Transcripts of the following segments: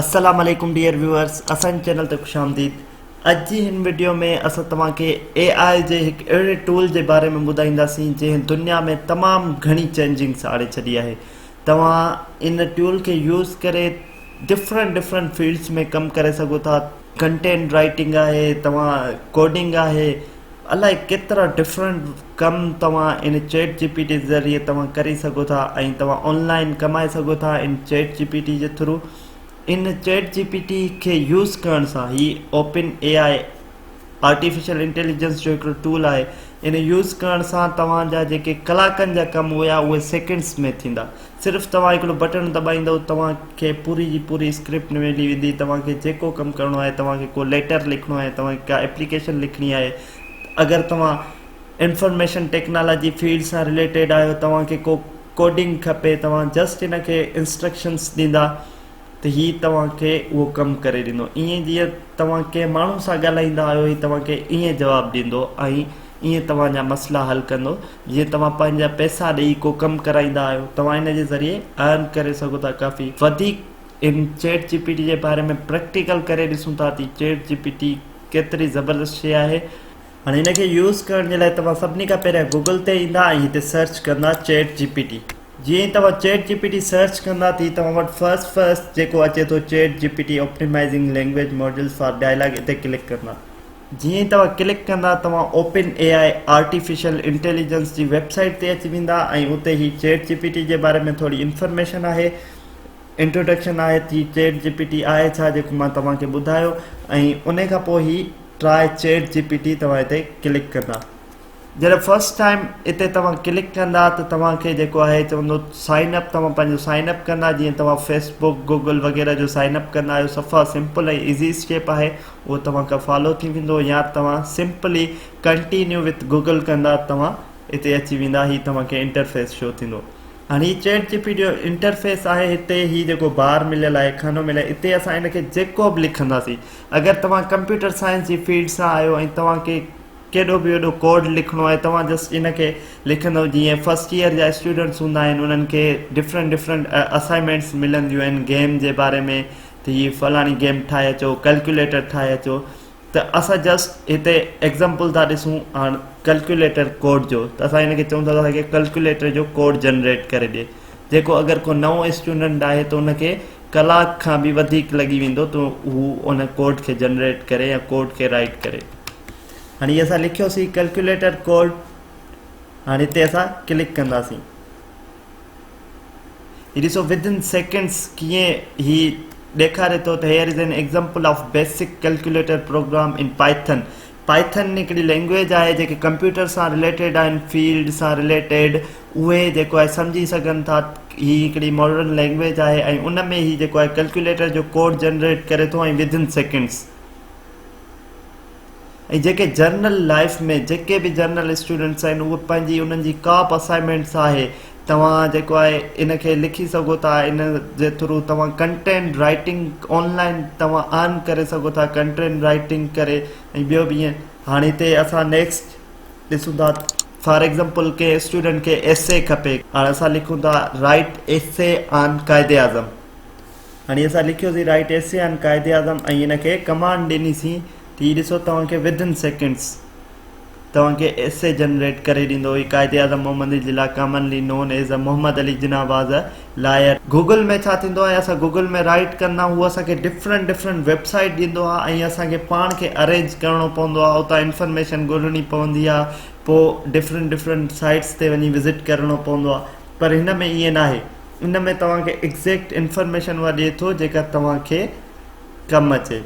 السلام عليڪم dear viewers اسان جي چينل تي خوش آمديد اڄ جي هن وڊيو ۾ اسان توهان کي اي آء جي هڪ اهڙي ٽول جي باري ۾ ٻڌائينداسين جنهن دنيا ۾ تمام گهڻي چينجنگس آڻي ڇڏي آهي توهان ان ٽول کي يوز ڪري ڊفرنٽ ڊفرنٽ فيلڊس ۾ ڪم ڪري سگهو ٿا ڪنٽينٽ رائيٽنگ آهي توهان ڪوڊنگ آهي الائي ڪيترا ڊفرنٽ ڪم توهان ان چيٽ جي پي ٽي ذريعي توهان ڪري سگهو ٿا ۽ توهان آن لائين ڪمائي سگهو ٿا ان چيٽ جي پي ٽي جي ٿرو ان چيٽ جي پي ٽي کي يوز ڪرڻ سان هي open A I artificial intelligence جو هڪڙو ٽول آهي ان يوز ڪرڻ سان توهان جا جيڪي ڪلاڪن جا ڪم هيا اهي سيڪنڊس ۾ ٿيندا صرف توهان هڪڙو بٽڻ دٻائيندؤ توهان کي پوري جي پوري اسڪرپٽ ملي ويندي توهان کي جيڪو ڪم ڪرڻو آهي توهان کي ڪو ليٽر لکڻو آهي توهان کي ڪا اپليڪيشن لکڻي آهي اگر توهان انفارميشن ٽيڪنالاجي فيلڊ سان رليٽيڊ آهيو توهان کي ڪو ڪوڊنگ کپي توهان جسٽ ان کي انسٽرڪشنس ڏيندا ته هي توهان کي اهو ڪم ڪري ڏيندو ائين جيئن توهان ڪنهن ماڻهو سان ڳالهائيندا آهيو هي توهان کي ائين جواب ڏيندو ۽ ائين توهان جا مسئلا حل ڪندو جيئن توهان پنهنجا پئسا ڏئي ڪو ڪم ڪرائيندا آهيو توهان ان جي ذريعي ارن ڪري سگهو ٿا ڪافي وڌيڪ ان چيٽ جي پي ٽي جي باري ۾ پريڪٽيڪل ڪري ڏسون ٿا ته چيٽ جي پي ٽي ڪيتري زبردست شي آهي هاڻي هن کي يوز ڪرڻ جي لاء توهان سڀني کان پهريان گوگل تي ايندا ۽ هتي سرچ ڪندا چيٽ جي پي ٽي جيئن ئي توهان chat G P T search ڪندا تي توهان وٽ فرسٽ فرسٽ جيڪو اچي ٿو چيٽ G P T optimising language models for dialogue اتي ڪلڪ ڪندا جيئن ئي توهان ڪلڪ ڪندا توهان open A I artificial intelligence جي ويب سائيٽ تي اچي ويندا ۽ اتي هي چيٽ جي پي ٽي جي باري ۾ ٿوري انفارميشن آهي انٽروڊڪشن آهي ته هي چيٽ جي پي ٽي آهي ڇا جيڪو مان توهان کي ٻڌايو ۽ ان کان پوء هي Try Chat GPT توهان هتي ڪلڪ ڪندا جڏهن فرسٽ ٽائيم هتي توهان ڪلڪ ڪندا ته توهان کي جيڪو آهي چوندو سائن اپ توهان پنهنجو سائن اپ ڪندا جيئن توهان فيسبوڪ گوگل وغيره جو سائن اپ ڪندا آهيو صفا سمپل ۽ ايزي اسٽيپ آهي اهو توهان کان فالو ٿي ويندو يا توهان سمپلي ڪنٽينيو وٿ گوگل ڪندا توهان هتي اچي ويندا هي توهان کي انٽرفيس شو ٿيندو هاڻي هي چيٽ جي پي جو انٽرفيس آهي هتي هي جيڪو بار مليل آهي خانو مليل اتي اسان هن کي جيڪو به لکنداسين اگر توهان ڪمپيوٽر سائنس جي فيلڊ سان آهيو ۽ توهان کي ڪيڏو به وڏو ڪوڊ لکڻو آهي توهان جسٽ ان کي لکندو جيئن فرسٽ ييئر جا اسٽوڊنٽس هوندا آهن انهن کي ڊفرنٽ ڊفرنٽ اسائنمينٽس ملنديون آهن گيم جي باري ۾ ته هي فلاڻي گيم ٺاهي اچو ڪلڪيوليٽر ٺاهي اچو ته اسان جسٽ هتي ايگزامپل ٿا ڏسون هاڻ ڪلڪيوليٽر ڪوڊ جو ته اسان هن کي چون ٿا ته ڪلڪيوليٽر جو ڪوڊ جنريٽ ڪري ڏي جيڪو اگر ڪو نئون اسٽوڊنٽ آهي ته ان کي ڪلاڪ کان به وڌيڪ لڳي ويندو ته هو ان ڪوڊ کي جنريٽ ڪري يا ڪوڊ کي رائٽ ڪري هاڻي اسان لکيوسين ڪلڪيوليٽر ڪوڊ هاڻي هتي اسان ڪلڪ ڪنداسين هي ڏسو ودن سيڪنڊس ڪيئن هي ڏيکاري ٿو ته here is an example of basic calculator program in Python Python هڪڙي لينگويج آهي جيڪي ڪمپيوٽر سان رليٽيڊ آهن فيلڊ سان رليٽيڊ اهي جيڪو آهي سمجهي سگهن ٿا هي هڪڙي ماڊرن لينگويج آهي ۽ ان ۾ هي جيڪو آهي ڪلڪيوليٽر جو ڪوڊ جنريٽ ڪري ٿو ۽ وڌن سيڪنڊس ۽ جيڪي جرنل لائف ۾ جيڪي به جرنل اسٽوڊنٽس آهن اهي پنهنجي انهن جي ڪا به اسائنمينٽس آهي توهان جيڪو آهي ان کي لکي سگهو ٿا ان جي ٿرو توهان ڪنٽينٽ رائٽنگ آن لائن توهان ارن ڪري سگهو ٿا ڪنٽينٽ رائٽنگ ڪري ۽ ٻيو به ائين هاڻي هتي اسان نيڪسٽ ڏسون ٿا فار ايگزامپل ڪنهن اسٽوڊنٽ کي ايسي کپي هاڻي اسان لکون ٿا رائٽ ايسي آن قائد اعظم هاڻي اسان لکيوسين رائٽ ايسي آن قائد اعظم ۽ هن کي ڪمانڊ ڏنيسين ته هي ڏسو توهان کي ودن سيڪنڊس توهان کي ايسي جنريٽ ڪري ڏيندو هي قائد اعظم محمد اي جلا commonly known as a Muhammad Ali Jinnah was a lawyer. Google ۾ ڇا ٿيندو آهي اسان گوگل ۾ رائيٽ ڪندا آهيون هو اسان کي ڊفرنٽ ڊفرنٽ ويب سائيٽ ڏيندو آهي ۽ اسان کي پاڻ کي ارينج ڪرڻو پوندو آهي اتان انفرميشن ڳولڻي پوندي آهي پو ڊفرنٽ ڊفرنٽ سائيٽس تي وڃي وزٽ ڪرڻو پوندو آهي پر هن ۾ ائين ناهي ان ۾ توهان کي ايگزيڪٽ انفرميشن اها ڏي ٿو جيڪا توهان کي ڪم اچي.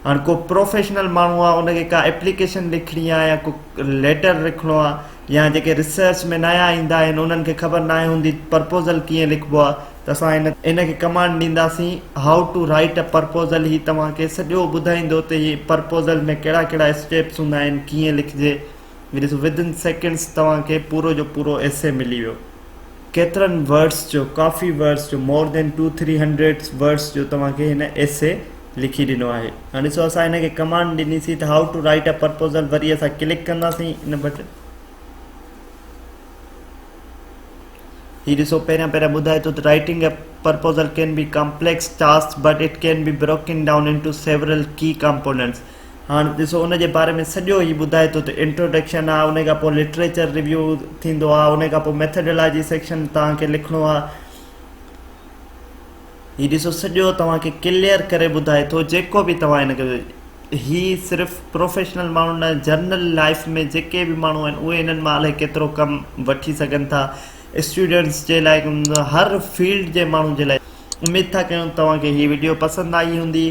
هاڻي ڪو پروفيشنل ماڻهو آهي ان کي ڪا اپليڪيشن لکڻي آهي يا ڪو ليٽر لکڻو آهي يا جيڪي ريسرچ ۾ نيا ايندا آهن انهن کي خبر ناهي هوندي پرپوزل ڪيئن لکبو آهي ته اسان ان کي ڪمانڊ ڏينداسين How to write a proposal هي توهان کي سڄو ٻڌائيندو ته هي پرپوزل ۾ ڪهڙا ڪهڙا اسٽيپس هوندا آهن ڪيئن لکجي ڏسو within seconds توهان کي پورو جو پورو ايسي ملي ويو ڪيترن ورڊس جو ڪافي ورڊس جو more than two three hundreds words جو توهان کي هن ايسي لکي ڏنو آهي هاڻي ڏسو اسان هن کي ڪمانڊ ڏني سي ته how to write a proposal وري اسان ڪلڪ ڪنداسين ان بٽن هي ڏسو پهريان پهريان ٻڌائي ٿو ته writing a proposal can be complex task but it can be broken down into several key components هاڻ ڏسو ان جي باري ۾ سڄو هي ٻڌائي ٿو ته انٽروڊڪشن آهي ان کانپوء لٽريچر ريويو ٿيندو آهي ان کانپوء ميٿڊالاجي سيڪشن توهان کي لکڻو آهي هي ڏسو سڄو توهان کي ڪليئر ڪري ٻڌائي ٿو جيڪو به توهان هن هي صرف پروفيشنل ماڻهو نه جنرل لائف ۾ جيڪي به ماڻهو آهن اهي هنن مان الائي ڪيترو ڪم وٺي سگهن ٿا اسٽوڊنٽس جي لاء هر فيلڊ جي ماڻهن جي لاء اميد ٿا ڪيون توهان کي هي وڊيو پسند آئي هوندي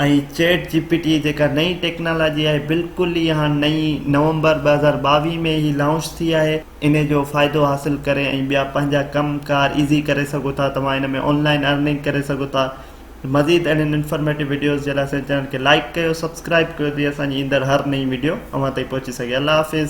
۽ چيٽ جي پي ٽي جيڪا نئين ٽيڪنالاجي آهي بلڪل ئي هاڻ نئين نومبر ٻه هزار ٻاويهه ۾ هي لانچ ٿي آهي انهي جو فائدو حاصل ڪري ۽ ٻيا پنهنجا ڪم ڪار ايزي ڪري سگهو ٿا توهان ان ۾ آنلائن ارننگ ڪري سگهو ٿا مزيد اهڙين انفارميٽو وڊيوز جي لاء اسان جي چينل کي لائڪ ڪيو سبسڪرائب ڪيو جي اسان جي ايندڙ هر نئين وڊيو اوهان تائين پهچي سگهي الله حافظ